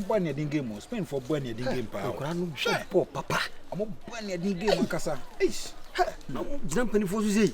bɔ ne ɛden game o spain fɔ bɔ ne ɛden game paa o nkura no bɔ bɔ papa ɔmo bɔ ne ɛden game ankasa eish na ɔmo gyina mpanyinfoɔ so sɛ yi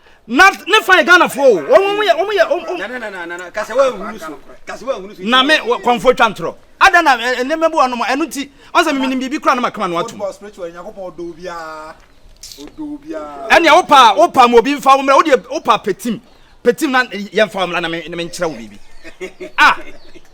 na ne fa yɛ ghanafoɔ o wɔn wɔn yɛ wɔn yɛ wɔn wɔn. nana nana nana kasi wa ehunu so kasi wa ehunu so. na me kɔnfo twa ntorɔ ada na eh, nneɛma bi wɔ nom ɛno nti ɔn sɛ mimini biribi kora na ma kama no atum. football spiritual nyankopɔn ɔdɔ obiara ɔdɔ obiara. ɛnea wopa wopa mu obi nfa wo mmerɛ wodeɛ wopa petim petim na yɛmfa wo mmra na menkyerɛ wo biribi ah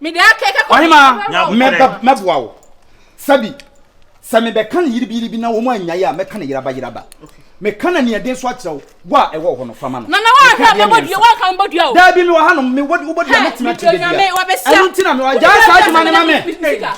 mede akɛkɛ kɔ ɔhema mɛboa wo sɛbi sɛ mebɛka no yiribiyiribi na wɔn anyae a mɛka no yeraba yeraba meka no aniɛden so akyerɛ wo wo a ɛwɔ hɔ no fama no nana woahwɛ a mebɔdua woanka mebɔdua o daabi mewɔ ha no mebɔdua mɛtumi akyerɛ dɛdua ɛno nti na mewɔ agyaa saa adwuma no ma me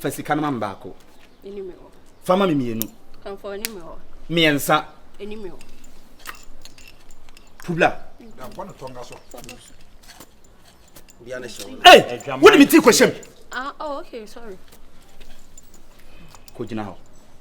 Fa sika no ma me baako. Fa ma me mmienu. Mmiɛnsa. Publa. Hey, wode me ti kɔhyɛm. Ah, oh, okay, sorry. Kɔgyina hɔ.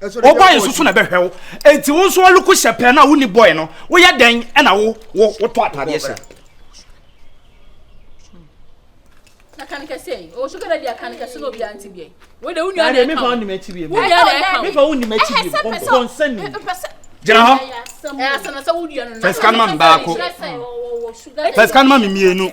wɔbɔe nso so na ɛbɛhwɛ wo enti wo nso ɔloko hyɛ pɛɛ no a wonni bɔe no woyɛ dɛn ɛna wo wo wotɔ ataadeɛ hyɛ gyina hɔ fɛsika no ma me baako fɛsika no ma me mmienu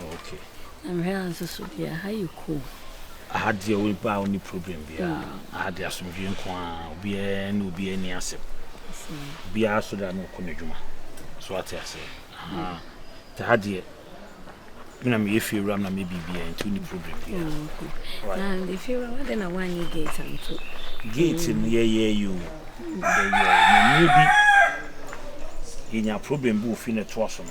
Okay. Na mehwɛ ha nso so deɛ ha yɛ cool. Aha deɛ wo ba wo ni problem biara. Mm. Aha deɛ asomdwe nko a obiara ne obiara ni asɛm. Obiara so da na ɔkɔ n'adwuma. So ate ase. Aha. Mm. Te ha deɛ me na meyɛ fie wura na meyɛ biribiara nti wo ni problem biara. Oh, okay. Right. Na de fie wura wadɛ na wanyɛ gate anto. Gate no yɛyɛ yi o. Yɛyɛ. Mmiri bi yɛnya problem bi wɔ fie na ɛtoa so no.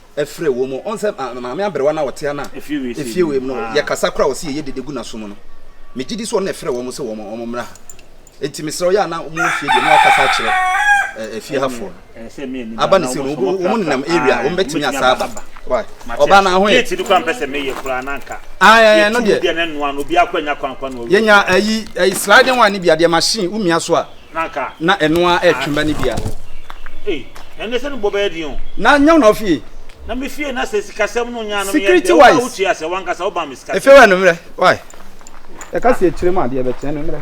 frɛ wom. Ɔn sɛ maame aberewa no a ɔte ha no a efie wei mu no yɛkasa koraa a ɔse yɛyɛ dede gu n'aso mu no, megye di sɛ ɔno na ɛfrɛ wɔn sɛ wɔn mmra ha. Enti mesrɛ wo, yɛ a na mowɔ fie deɛ na wakasa akyerɛ efie ha foɔ no. Aba ne sɛ no, wɔn nenam area a wɔn bɛtumi asa aba. Why? Ɔbaa na ahoyɛ. Gate no kora mpɛ sɛ meyɛ koraa na nka. Ah, eh, no deɛ. Yɛnya ayi, ayi sliding one no bi adeɛ machine, womia so a. na ɛno ara ɛretwe mma no biara. Na nyɛ wo na ɔfie. Security wise, efe wɛ no mmerɛ, why? Ɛka si akyire mu adeɛ bɛkyerɛ no mmerɛ.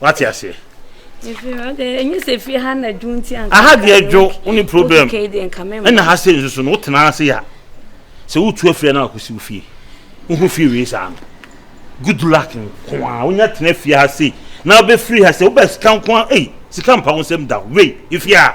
Wate aseɛ? ɛnyɛ sɛ fie ha na dwo nti anka aha deɛ dwo wo ne problem ɛna ha sɛ nsusu no wotena ase ya sɛ wotu afiri na wakɔsi wo fie wohu fie wei saa no good luck nko a wonya tena fie ha sei na wobɛfiri ha sɛ wobɛ sika nko a ei sika mpa wo nsɛm da wei ɛfie a